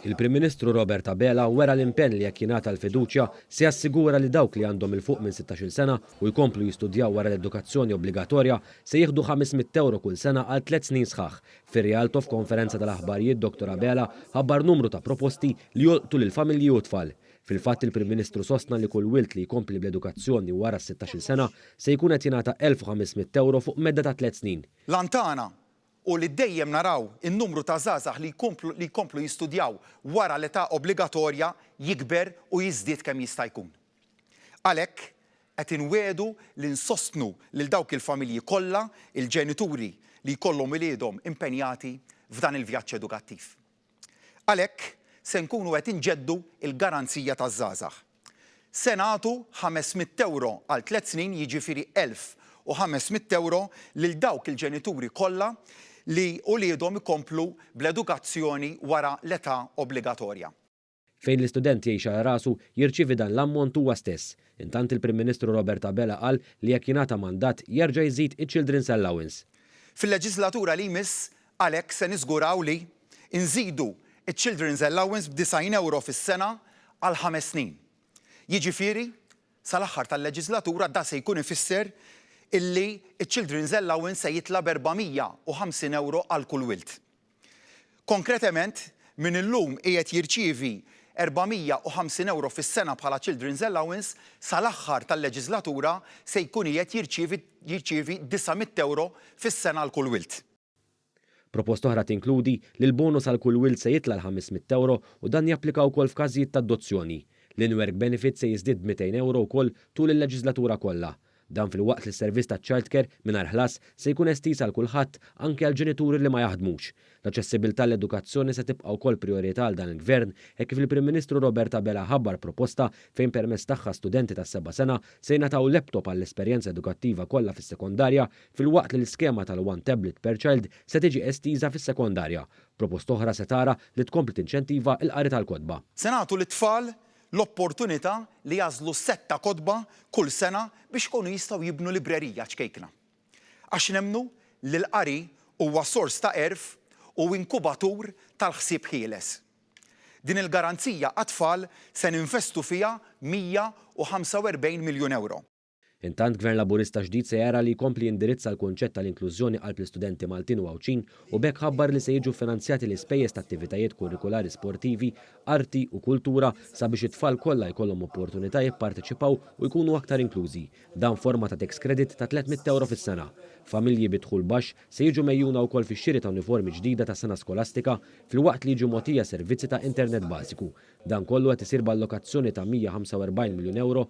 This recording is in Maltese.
Il-Prim Ministru Robert Abela wera l-impenn li jekk jingħata l-fiduċja se jassigura li dawk li għandhom 'il fuq minn 16-il sena u jkomplu jistudjaw wara l-edukazzjoni obbligatorja se jieħdu 500 ewro kull sena għal tliet snin sħaħ. Fir-Rialto f'konferenza tal-aħbarijiet Dottor Abela ħabbar numru ta' proposti li jolqtu lill-familji u t-tfal. Fil-fatt il-Prim Ministru sostna li kull wild li jkompli bl-edukazzjoni wara s-16-il sena se jkun qed jingħata 1,500 ewro fuq medda ta' tliet snin. L-għan tagħna hu li dejjem naraw in-numru ta' żgħażagħ li jkomplu li jkomplu jistudjaw wara l-età obbligatorja jikber u jiżdied kemm jista' jkun. Għalhekk, qed inwiegħdu li nsostnu lil dawk il-familji kollha, il-ġenituri li jkollhom uliedhom impenjati f'dan il-vjaġġ edukattiv. Għalhekk se nkunu qed inġeddu l-garanzija taż-żgħażagħ. Se nagħtu ħames mitt ewro għal tliet snin, jiġifieri elf u ħames mitt ewro lil dawk il-ġenituri kollha li uliedhom ikomplu bl-edukazzjoni wara l-età obbligatorja. Fejn l-istudent jgħix għal rasu, jirċievi dan l-ammont huwa stess. Intant il-Prim Ministru Robert Abela qal li jekk jingħata mandat, jerġa' jiżid iċ-Children's Allowance. Fil-leġislatura li jmiss għalhekk se niżguraw li, inżidu ċ-Children's Allowance b'disgħin ewro fis-sena għal ħames snin. Jiġifieri, sal-aħħar tal-leġislatura da se jkun ifisser illi ċ-Children's Allowance se jitla' b'erbgħa mija u ħamsin ewro għal kull wild. Konkretement, min illum qiegħed jirċievi €450 fis-sena bħala Children's Allowance, sal-aħħar tal-leġiżlatura se jkun qiegħed jirċievi jirċievi €900 fis-sena għal kull wild. Proposta oħra tinkludi li l-bonus għal kull wild se jitla' l-€500 u dan japplika wkoll f'każijiet ta' adozzjoni. L-in-work benefit se jiżdied b' €200 wkoll tul il-leġiżlatura kollha. Dan filwaqt li s-servizz taċ-childcare mingħajr ħlas se jkun estiż għal kulħadd, anki għal ġenituri li ma jaħdmux. L-aċċessibbiltà għall-edukazzjoni se tibqa' wkoll prijorità għal dan il-Gvern hekk kif il-Prim Ministru Robert Abela ħabbar proposta fejn permezz tagħha studenti tas-seba' sena se jingħataw laptop għall-esperjenza edukattiva kollha fis-sekondarja filwaqt li l-iskema tal-one tablet per child se tiġi estiża fis-sekondarja. Proposta oħra se tara li tkompli tinċentiva l-qari tal-kotba. Se nagħtu lit-tfal l-opportunità li jagħżlu sett ta' kotba kull sena biex ikunu jistgħu jibnu librerija ċkejkna. Għax nemmnu li l-qari huwa sors ta' għerf u inkubatur tal-ħsieb ħieles. Din il-garanzija għat-tfal se ninvestu fiha 145 miljun ewro. Intant, Gvern Laburista ġdid se jara li jkompli jindirizza l-kunċett tal-inklużjoni qalb l-istudenti Maltin u Għawdxin u b'hekk ħabbar li se jiġu ffinanzjati l-ispejjeż ta' attivitajiet kurrikulari sportivi, arti u kultura sabiex it-tfal kollha jkollhom opportunità jipparteċipaw u jkunu aktar inklużi, dan f'forma ta' tax credit ta' tliet mitt ewro fis-sena. Familji bi dħul baxx se jiġu megħjuna wkoll fix-xiri ta' uniformi ġdida tas-sena skolastika filwaqt li jiġu mogħtija servizzi ta' internet bażiku. Dan kollu qed isir b'allokazzjoni ta' 145 miljun ewro